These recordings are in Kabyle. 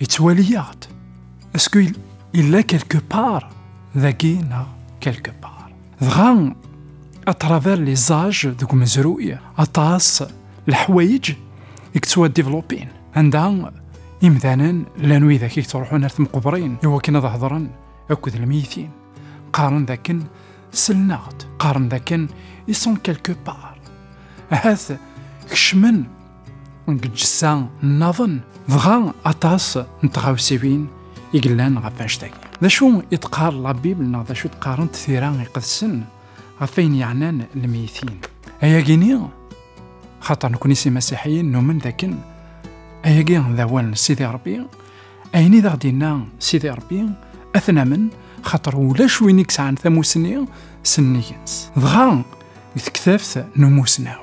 Yettwali-aɣ-d. Est-ce que yella quelque part dagi neɣ quelque part. Dɣa à travers les âges deg umezruy aṭas leḥwayeǧ i yettwadivlupin anda imdanen llan widak i yettruḥun ar temqebrin iwakken ad hedren akked lmiyitin qqaren dakken selnaɣ-d qqaren dakken ils sont quelque part ahat kecmen deg lǧessa nnaḍen dɣa aṭas n tɣawsiwin i yellan ɣef annect-agi d acu i d-qqar la bibl neɣ d acu i d-qqarent tira iqedsen ɣef ayen yeɛnan lmeytin ayagi-ni xaṭer nekni si masiḥiyin numen dakken ayagi d awal n sidi rebbi ayen i d aɣ-d-inna sidi rebbi ad t-namen xaṭer ulac win i yesɛan tamusni s nnig-ns dɣa deg tektabt n umusnaw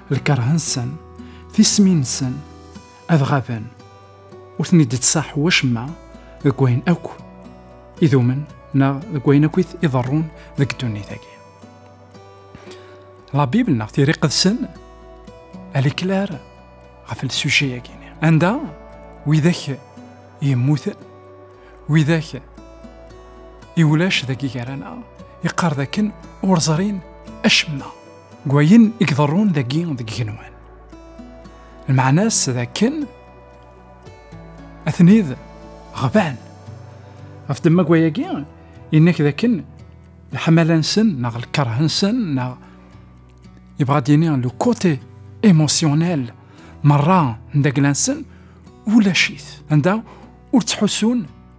lkerh-nsen, tismin-nsen, ad ɣaben, ur ten-id-ittṣaḥ wacemma deg wayen akk idumen neɣ deg wayen akk iḍerrun deg ddunit-agi. La Bible neɣ tiri qedsen, elle est claire ɣef lsujay-agi. Anda widak yemmuten, widak i ulac dagi gar-aneɣ, yeqqar dakken ur ẓrin acemma. Gwayen i iḍerrun dagi deg igenwan. Lmeɛna-s d akken atenid ɣban. Ɣef ddemma gwayagi, yennak d akken lḥemala-nsen neɣ lkerh-nsen neɣ yebɣa ad yini le côté émotionnel merra n dagla-nsen ulac-it anda ur ttḥusun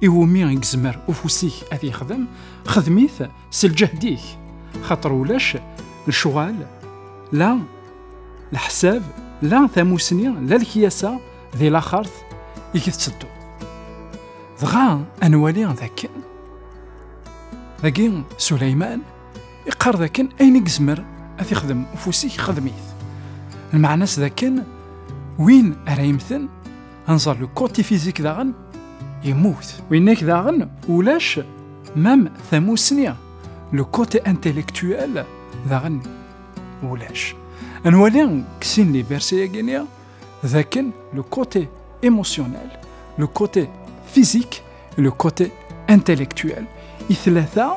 iwumi i yezmer ufus-ik ad yexdem xedmit s lǧehd-ik xaṭer ulac lecɣal la leḥsab la tamusni la lekyasa di laxert i k-tetteddu dɣa ad nwali dakken dagi Suleyman iqqar dakken ayen i yezmer ad yexdem ufus-ik xedmit lmeɛna-s dakken win ara yemten Anẓar le konti fizik daɣen yemmut. Winnek daɣen ulac mam tamusni le konti intellectuel daɣen ulac. Ad nwali deg sin li verset-agi-nni d akken le konti émotionnel, le konti fizik, le konti intellectuel. I tlata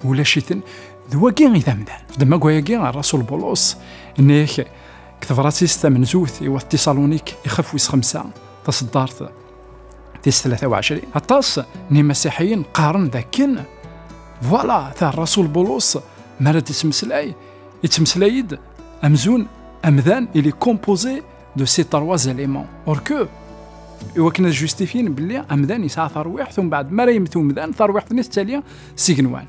ulac-iten d wagi i d amdan. Fdem agwayagi ar Rasul Bulus nnek deg tebṛat-is tamenzut i wat Tiṣalunik ixef wis xemsa taṣeddart tis tlata u ɛecrin aṭas n imasiḥiyen qqaren d akken voilà ta rasul bulus mi ara d-ittmeslay ittmeslay-d amzun amdan il est composé de ces trois éléments or que iwakken ad justifyen belli amdan yesɛa tarwiḥt umbeɛd mi ara yemmet umdan tarwiḥt-nni tettali s igenwan